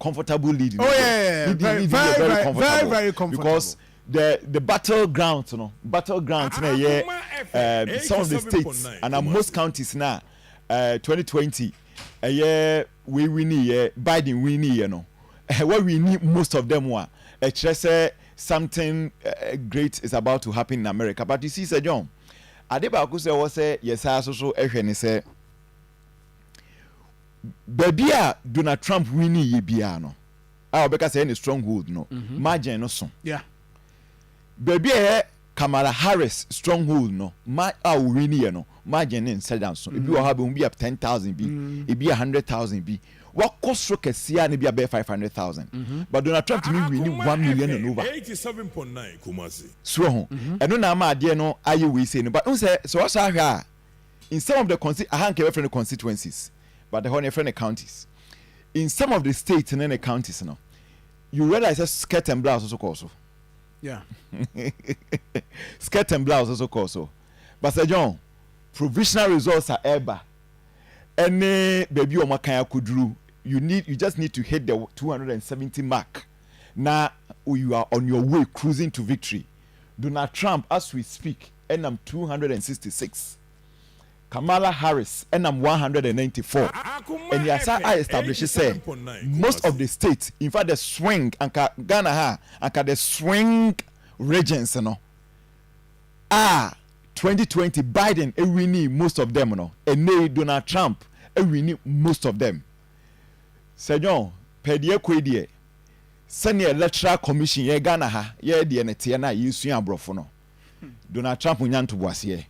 comfortable lead no oh, yeah, yeah, yeah. lead very, very, very, very comfortable very, very comfortable because the the battle ground no battle ground na ɛyɛ uh, some of the states and uh, most counties na uh, 2020 ɛyɛ wei winni yɛ Biden winni yɛ no ɛwɔ winni most of them a ɛkyerɛ sɛ something uh, great is about to happen in America but you see sɛ John ade baako sɛ ɛwɔ sɛ yɛsaa so so ɛhwɛ ne sɛ. Baabi a Donald Trump winnie yɛ biara no, a wɔbɛka sɛ ɛyɛ ne stronghold no, mm-hmm. margin no so. Yeah. Baabi a ɛyɛ Kamala Harris stronghold no, ma a owinnie yɛ no, margin ne nsɛ dan so. Ebi wɔ mm-hmm. hɔ abɛn bi a ten thousand bi, mm-hmm. ebi a hundred thousand bi. Wakɔ soro kɛseɛ a ne bi abɛyɛ five hundred thousand. But Donald Trump tumi winnie one million and over. Eighty seven point nine Kumasi. Soɔ ho, ɛno na ama adeɛ no ayɛ wei sei no, but n sɛ sɛ wɔsɔ ahwɛ a. In some of the consti, aha nka yɛbɛfrɛ no constituencies, but ɛhɔ no yɛfrɛ no counties. In some of the states ne ne counties no, you realize sɛ skirt and blouse so kɔɔ so. Yeah. skirt and blouse so kɔɔ so. Basa John, provisional results a ɛreba ɛne baabi a wɔakan akɔduru, you need you just need to hit the 270 mark na you are on your way cruising to victory. Donald Trump as we speak nam two hundred and sixty six, Kamala Harris nam one hundred and ninety four, and yɛasan a establish sɛ most of the states, in fact the swing, anka Ghana ha a, anka the swing regions no a twenty twenty Biden winii most of them no, ɛnnɛ yi Donald Trump awini most of them. Sir John, pɛ deɛ kɔ yi deɛ, sɛdeɛ Electoral Commission yɛ Ghana ha yɛ deɛ no teɛ no a yɛsua aborɔfo no, Donald Trump nnya ntoboaseɛ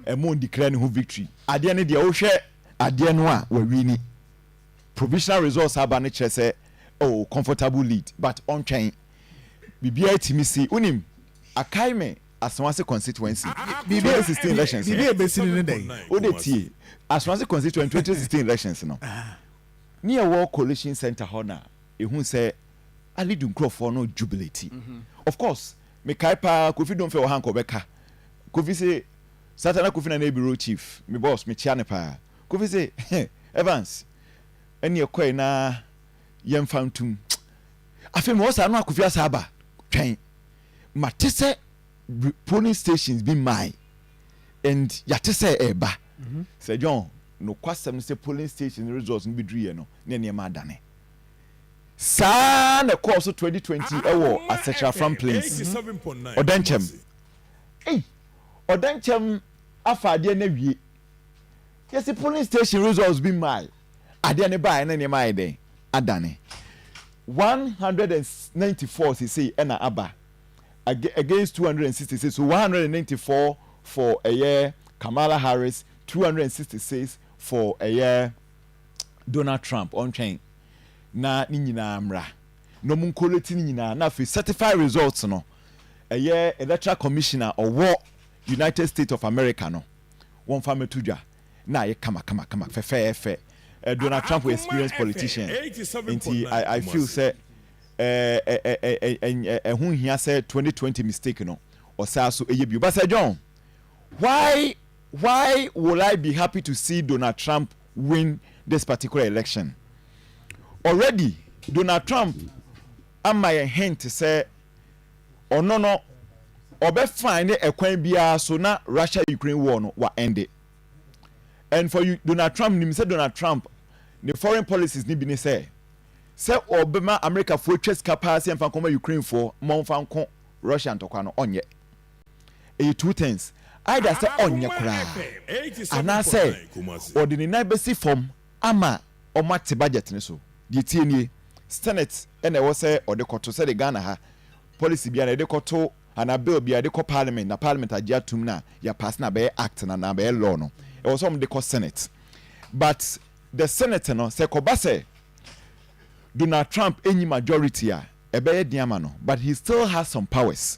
ɛma ɔn declare ne ho victory. Adeɛ no deɛ wohwɛ adeɛ no a wawini. Provisional results aba no kyerɛ sɛ oh comfortable lead but ɔntwɛn. Biribiara tumi si. Wonim Akaime Asawase constituency twenty sixteen elections no? Biribi a ɛbɛsi no ne dɛn? Wode tie Asawase constituency twenty sixteen elections no ne ɛwɔ coalition centre hɔ no a ɛhu sɛ Ali du nkurɔfoɔ no jubilate. Of course. Me kae paa Kofi Domfɛ wɔ ha anka ɔbɛka Kofi se Satana Kofi Nana Ebiro Chief me boss me kyea no paa Kofi se Evans ɛne ɛkɔe na yɛnfa ntum afei mewɔ saa no a Kofi asa aba twɛn ma te sɛ polling stations bi mae and yɛate sɛ ɛɛba Sir John nokwasɛm ne sɛ polling stations results no bɛduruyɛ no na nneɛma adane Saa ara na ɛkɔɔ so 2020 wɔ Asetra-Afram Plains, Ɔdɛnkyɛm. Ei, Ɔdɛnkyɛm afa adeɛ no awie. Yɛsi polling station results bi mmae. Adeɛ no baeɛ na nneɛma ayɛ dɛn? Adane. 194 seesei ɛna aba against 266, so 194 for ɛyɛ Kamala Harris, 266 for ɛyɛ Donald Trump ɔntwɛn na ne nyinaa mmra na ɔmo nkolɛti ne nyinaa na afei sɛtifai resɔlt no ɛyɛ Elektoral Kɔmihyin a ɔwɔ United State of Amerika no wɔmfa mɛto dwa na ayɛ kamakamakama fɛfɛɛfɛ Donald Trump yɛ experience politician nti I feel sɛ ɛho nhia sɛ twenty twenty mistake no ɔsaa so ɛyɛ bio but Sir John why Why will I be happy to see Donald Trump win this particular election? Already Donald Trump ama yɛn hint sɛ ɔno no ɔbɛ find ɛkwan biara so na Russia Ukraine war no wa ende. And for you Donald Trump nim sɛ Donald Trump ne foreign policies no bi ne sɛ sɛ ɔbɛma Americafoɔ twa sika paa sɛ yɛmfa nkɔma Ukrainefoɔ ma wɔmfa nko Russia ntɔkwa no ɔnyɛ. Ɛyɛ two turns, either sɛ ɔnyɛ koraa anaasɛ ɔde ne nan bɛsi fam ama wɔate budget no so. Deɛ ɛteɛ nie, Senate na ɛwɔ sɛ ɔde kɔto sɛdeɛ Ghana ha, policy biara no yɛde kɔto anaa bill biara yɛde kɔ parliament na parliament agye atom na yɛapaase no abɛyɛ act no anaa abɛyɛ law no, ɛwɔ sɛ wɔde kɔ Senate. But the Senate no, sɛ ɛkɔba sɛ Donald Trump nyi majority a, ɛbɛyɛ den ama no but he still has some powers.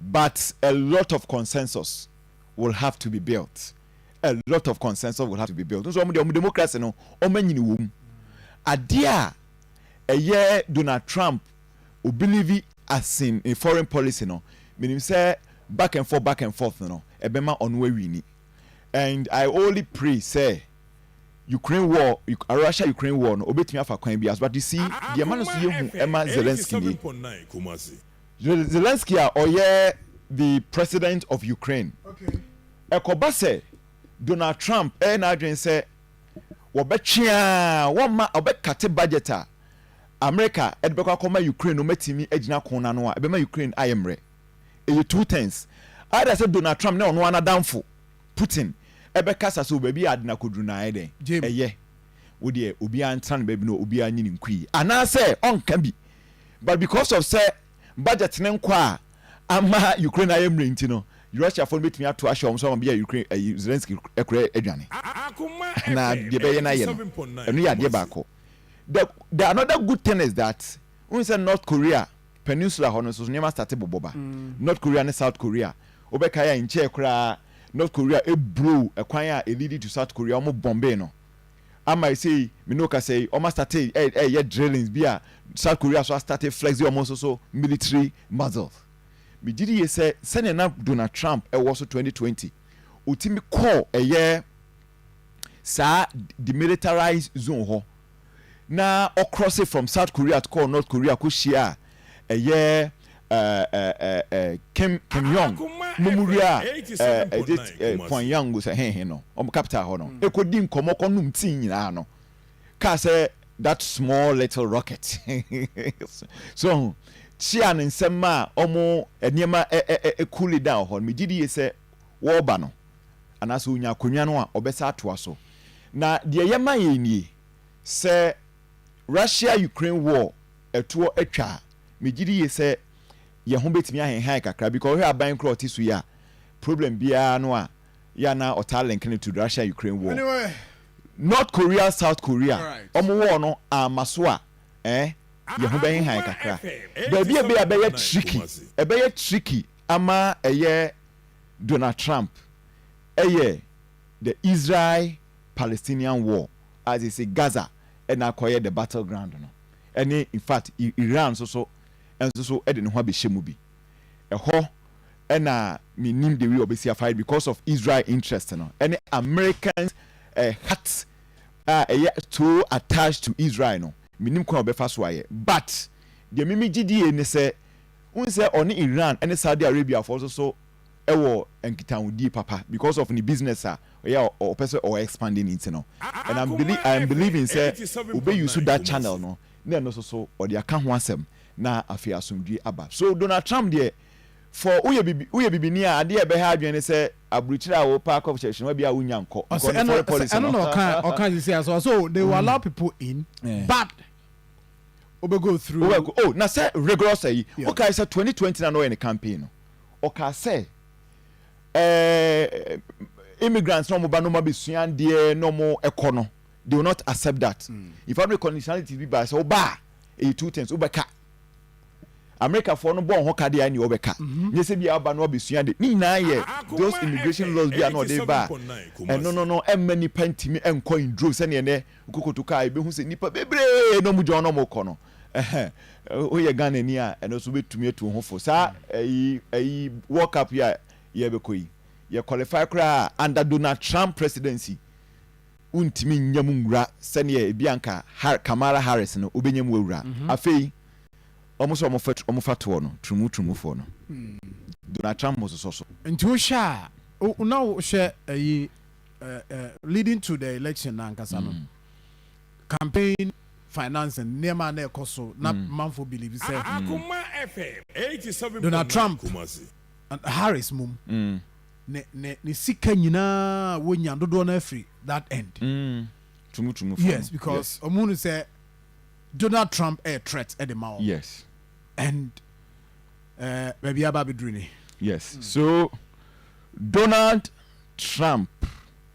but a lot of consensus will have to be built, a lot of consensus will have to be built. Nso wɔn deɛ wɔn democracy no wɔn anyini wɔm. Adeɛ a ɛyɛ Donald Trump o believe asin ne foreign policy no, menim sɛ back and forth back and forth no ɛbɛma ɔno awini. And I only pray sɛ Ukraine war, Russia Ukraine war no obetumi afa kwan biara so but you see deɛ ɛma no so yɛ hu ɛma Zelensky nie. Zelensky a ɔyɛ the President of Ukraine. Ɛkɔba sɛ Donald Trump ɛyɛ n'adwene sɛ wɔbɛtwe a wɔmma ɔbɛkate budget a Amerika ɛde bɛkɔ akɔma Ukraine na wɔatumi agyina ko no ano a ɛbɛma Ukraine ayɛ mmerɛ. Ɛyɛ two turns. Ayɛ dɛ sɛ Donald Trump ne ɔno ara n'adamfo Putin ɛbɛkasa so baabi a ade no akɔduru no ayɛ dɛ ɛyɛ wo deɛ obiara ntena ne baabi na obiara nyi ne nkui anaasɛ ɔnka bi But because of sɛ budget no nkɔ a ama Ukraine ayɛ mmerɛ nti no, Russiafoɔ no bɛtumi ato ahyɛ wɔn so ama bia Ukraine ayi Zelensky koraa adwane. Na deɛ ɛbɛyɛ no ayɛ no, ɛno yɛ adeɛ baako. The, the another good thing is that, wohu sɛ North Korea peninsula hɔ no nso nneɛma starte bobɔ ba. North Korea ne South Korea, wobɛkae a nkyɛɛ koraa North Korea ɛblow ɛkwan a ɛleadi to South Korea, wɔn bombee no. ama ɛsei me ne wo kasa yi wɔn astate ɛyɛ drillings bi a South Korea so astate flex wɔn nso so military muscles me gye di yie sɛ sɛnea na Donald Trump ɛwɔ so 2020 ɔtumi kɔɔ ɛyɛ saa demilitarized zone hɔ na ɔcross from South Korea kɔɔ North Korea kɔ hyia a ɛyɛ Kim Kim Yong nom wia Pyongyang sɛ he he no, wɔn capital hɔ no, ɛkɔdi nkɔmmɔ kɔnom tii nyinaa no, kaa sɛ that small little rocket so wahu, kyea no nsɛm ma wɔn nneɛma coole down wɔ hɔ no, megye die sɛ wɔreba no anaasɛ ɔnya akonnwa no a, wɔbɛsa atoa so. Na deɛ ɛyɛ ma yɛn nie sɛ Russia Ukraine war ɛtoɔ atwa a, megye di yie sɛ yɛn ho bɛtumi ahenhan kakra because wohwɛ aban koro a ɔte so yi a, problem biara no a yɛ a na ɔtaa link no to Russia Ukraine war. North Korea South Korea wɔn war no amma so a eh, yɛn ho bɛhenhan kakra. Baabi a ɛbɛyɛ a ɛbɛyɛ tricky, ɛbɛyɛ tricky ama ɛyɛ Donald Trump yɛ the Israel Palestinian war a seesei Gaza na akɔyɛ the battle ground no, ne in fact Iran nso so nso so de ne ho abɛhyɛ mu bi. Ɛhɔ na mennim the way wɔbɛsi afa ayɛ because of Israel interest no ne American eh, heart a ɛyɛ so attached to Israel no, mennim kwan a wɔbɛfa so ayɛ. But deɛ mimi gyedie ne sɛ, wohu sɛ ɔne Iran ne Saudi Arabia foɔ nso so wɔ nkitahodie papa because of ne business a ɔyɛ a ɔpɛ sɛ ɔ expand ne nti no and I'm believe I'm believing sɛ ɔbɛ use that channel no na ɛno nso so ɔde aka ho asɛm na afei asomdwie aba so Donald Trump deɛ for woyɛ bibi woyɛ bibini a adeɛ a ɛbɛha adwene ne sɛ aburikyire a wopɛ akɔ hyɛ hyɛnwa bi a wonnya nkɔ Ɔsɛ because ne ɛno foreign sɛ policy ɛno no. na ɔka ɔka sisi asɔ ɔsɛ o they will allow people in Eh. but ɔbɛ go through Wobɛkɔ oh na sɛ rigorous ayi Yeah. wokae sɛ twenty twenty na na ɔyɛ ne campaign no Ɔkaa sɛ, Ɛɛɛ, immigrants na wɔba na wɔabɛsua adeɛ na wɔkɔ no, they will not accept that. In fact, conditionalities bi baa sɛ woba a, ɛyɛ two things, wobɛka. Amerikafoɔ no bɔ wɔn ho ka deɛ a ɛne wɔbɛka. Mm-hmm. Nyɛ sɛ bi a aba na wɔabɛsua adeɛ. Ne nyinaa yɛ those immigration laws bi a na ɔde ba a, ɛno no no ɛmma nnipa ntumi nkɔ in drove sɛdeɛ ɛnɛ kokoto kaa yɛbɛhu sɛ nnipa bebree na wɔgyina hɔ na wɔkɔ no. Ɛhɛn, woyɛ Ghanani a, ɛno nso wobɛtumi atu wo ho fo. Saa ɛyi ɛyi World Cup yi a yɛrebɛkɔ yi, yɛ qualify koraa a, under Donald Trump presidency, wontumi nnya mu nwura sɛdeɛ ebi a anka Har Kamala Harris no, wobɛnya mu awura. Afei, wɔn sɛ wɔfa tu wɔfa toɔ no, turumu turumufoɔ no, Donald Trump bɛsosɔ so. Nti wohwɛ a, wo na wohwɛ ɛyi ɛ ɛ leading to the election no ankasa no, campaign financing nneɛma a na ɛkɔ so na mm. manfo believe sɛ ah, mm. Donald Trump Harris mum mm. ne ne ne sika nyinaa wonya dodoɔ no afiri that end. Mm. Tumutumu fam. Yes because ɔmo hunu sɛ Donald Trump ɛyɛ threat ɛde ma wɔn. Yes. And eh, baabi aba abɛduru ni. Yes so Donald Trump.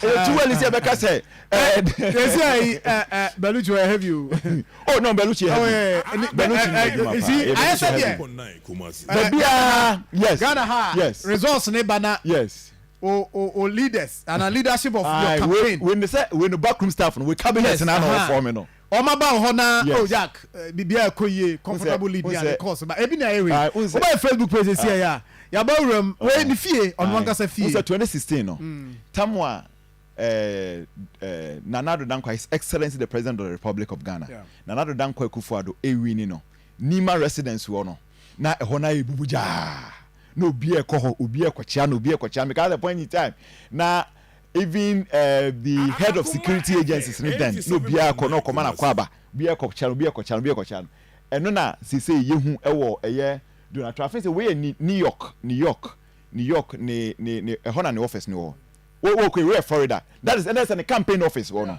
Ɛyɛ too early sɛ ɛbɛka sɛ. Ɛsɛ ayi Belucci ɔyɛ heavy o. Oh no Belucci yɛ heavy. Belucci ni adwuma paa. Ɛyɛ Belucci heavy. Baabi a yes. Ghana ha yes. Results ne ba na. Yes. O o o leaders ana leadership of your campaign. Wei wei ne sɛ wei no backroom staff no wei cabinet na na ɔfɔm no. Wɔn aba wɔ hɔ na oh yak bibia ɛkɔ yie comfortable living ade course ba ebi na ɛyɛ wei ɔba yɛ facebook page sisi ɛyɛ a yaba awura mu wei ne fie ɔno ankasa fie. Wosɛ 2016 no tamu a Nana Addo Dankwa His Excellency the President of the Republic of Ghana Nana Addo Dankwa Akufo Addo ewini no Nima residence wɔ no na ɛhɔ na ayɛ bubu gyaa na obi ɛkɔ hɔ obi ɛkɔkyea na obi ɛkɔkyea me ka sɛ point in time na Even eh the head of security agencies no then na obiara kɔ na ɔkɔma no akwaaba, obiara kɔ kyea no, obiara kɔ kyea no, obiara kɔ kyea no. Ɛno na seesei yehu ɛwɔ ɛyɛ Donald Trump. Afei sɛ wei yɛ Ni New York, New York, New York ne ne ne ɛhɔ na ne office no wɔ. Wo wokɔ wei yɛ Florida, that is ɛna sɛ ne campaign office wɔ no,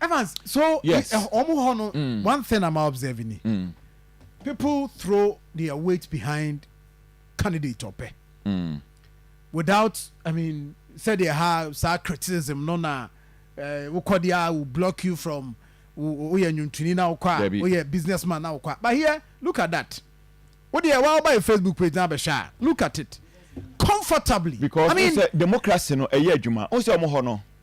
Evans, so yes. Eh, wɔn hɔ no mm. one thing I'm observing ni mm. people throw their weight behind candidate ɔpɛ mm. without I mean sɛdeɛ ha saa criticism no na eh, wokɔ deɛ a will block you from woyɛ nwontoni na wokɔ a woyɛ businessman na wokɔ a but here look at that wodeɛ wa woba yɛ Facebook page na abɛhwɛ a look at it comfortably because I mean, democracy no ɛyɛ adwuma wo sɛ ɔmo hɔ no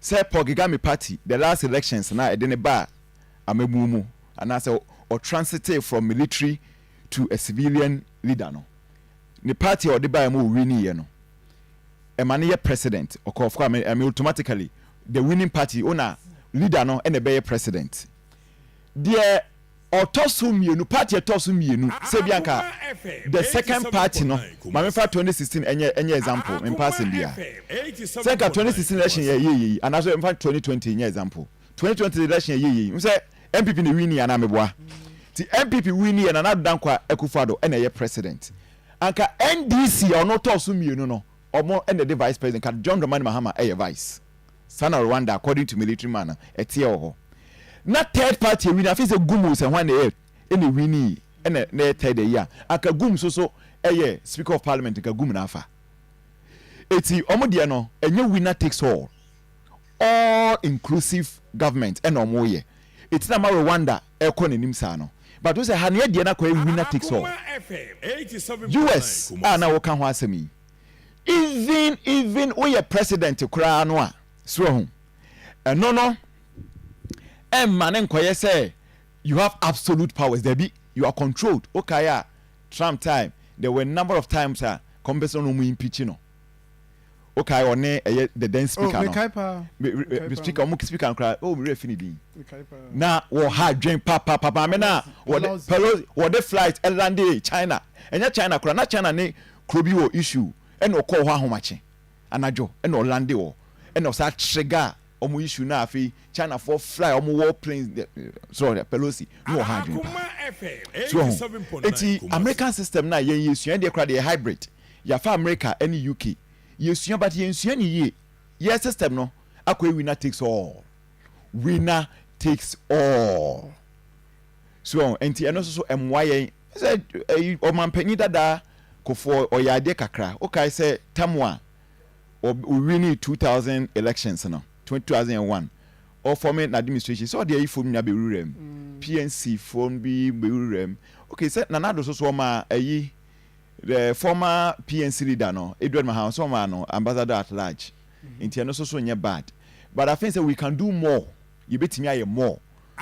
Sɛ Paul Kgame party the last elections no a ɛde no baa amabuo mu anaasɛ ɔtransitee from military to a civilian leader no, ne party a ɔde baeɛ ma ɔwiniiɛ no, ɛma no yɛ president, ɔkɔ of course, I mean automatically the winning party owner, leader no na ɛbɛyɛ president. Deɛ. Ɔtɔ so mmienu, party a ɛtɔ so mmienu, sɛ ebia anka the second party no, ma me fa twenty sixteen ɛnyɛ ɛnyɛ example, me mpa asɛm biara, sɛ anka twenty sixteen election yɛ ɛyɛ yie yi, anaa sɛ me fa twenty twenty nyɛ example, twenty twenty election yɛ ɛyɛ yie yi, wohu sɛ NPP na ɛwini anaa, meboa, nti NPP wini yɛ Nana Addo Dankwa Akufo Addo ɛna ɛyɛ president, anka NDC a ɔno ɔtɔɔ so mmienu no, Ɔmo na ɛde vice president ka John Dramani Mahama ɛyɛ vice saa na Rwanda according to military man no ɛteɛ wɔ hɔ na third party ɛwini afei sɛ gum o sɛ hwan na ɛyɛ ɛna ɛwini yi ɛna na ɛyɛ third ɛyi a anka gum so so ɛyɛ speaker of parliament nka gum na afa ɛti ɔmo deɛ no ɛnyɛ winner takes all all inclusive government ɛna ɔmo yɛ ɛti na ama Rwanda ɛrekɔ n'anim saa no. But wohu sɛ ha no yɛ deɛ no akɔ ayi winner takes all. US a na woka ho asɛm yi, even even woyɛ president koraa no a, so wahu, ɛno no ɛmma no nkɔyɛ sɛ you have absolute powers, dabi, you are controlled. Wokae a Trump time, there were number of times a kɔm bɛsɛ no na wɔn impeach no. Wo kae ɔne ɛyɛ the then speaker no? Oh, me kae paa. Me, me, me speaker, ɔmo speaker no koraa, oh, me werɛ fi ne din. Me kae paa. Na wɔ ha dwen pa pa pa maame na wɔde Pelosi wɔde flight ɛlande China. Ɛnyɛ China koraa, na China ne kuro bi wɔ issue, ɛna ɔkɔɔ hɔ ahomakye anadwo, ɛna ɔlande hɔ, ɛna ɔsaa trigger ɔmo issue na afei China foɔ fly ɔmo war plane, so Pelosi no wɔ ha dwen paa. So ho, eti American system na yɛn yɛ sua, ɛdeɛ koraa deɛ yɛ hybrid. Yɛafa America ne UK yɛsua but yɛnsua no yie yɛ system no akɔyɛ winner takes all winner takes all so ɔho nti ɛno nso so ɛmmoa yɛn sɛ ɛyi ɔmanpanyin dadaa kofoɔ ɔyɛ adeɛ kakra wokae sɛ tam a ɔwini 2000 elections no 2001 ɔfɔme n'administration sɛ ɔde ayifo nyinaa bɛwuram mm. pnc foɔ bi bɛwuram ok sɛ nanado so so ɔma ayi The former PNC leader no, Edward Mahama nso wɔmaa no Ambassador at large nti ɛno nso so nyɛ bad but I think sɛ we can do more, yɛbɛtumi ayɛ more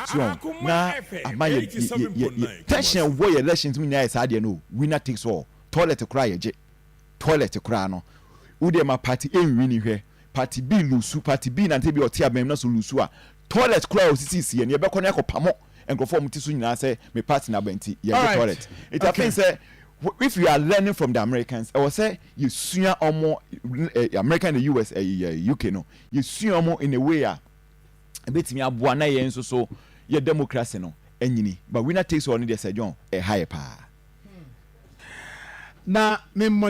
so wɔn na ama yɛ yɛ yɛ tension a ɛwɔ yɛ elections mu nyinaa yɛ saa deɛ no o, winner takes all, toilet koraa yɛgye toilet koraa no wodeɛ ma party ɛnwini hwɛ. Party B lusu, party B nante bia ɔte aban mu na so lusu a toilet koraa a osisi si yɛ no yɛbɛkɔ na yɛakɔ pamo nkorɔfoɔ a wɔn ti so nyinaa sɛ me party no aba nti yɛngye toilet nti I think sɛ if we are learning from the Americans ɛwɔ sɛ yɛsua wɔn America and the US UK no yɛsua wɔn in a way a ɛbɛtumi aboa na yɛn nso so yɛ democracy no anyini but winner takes all no deɛ Sir John ɛha yɛ paa. Na me mmɔ.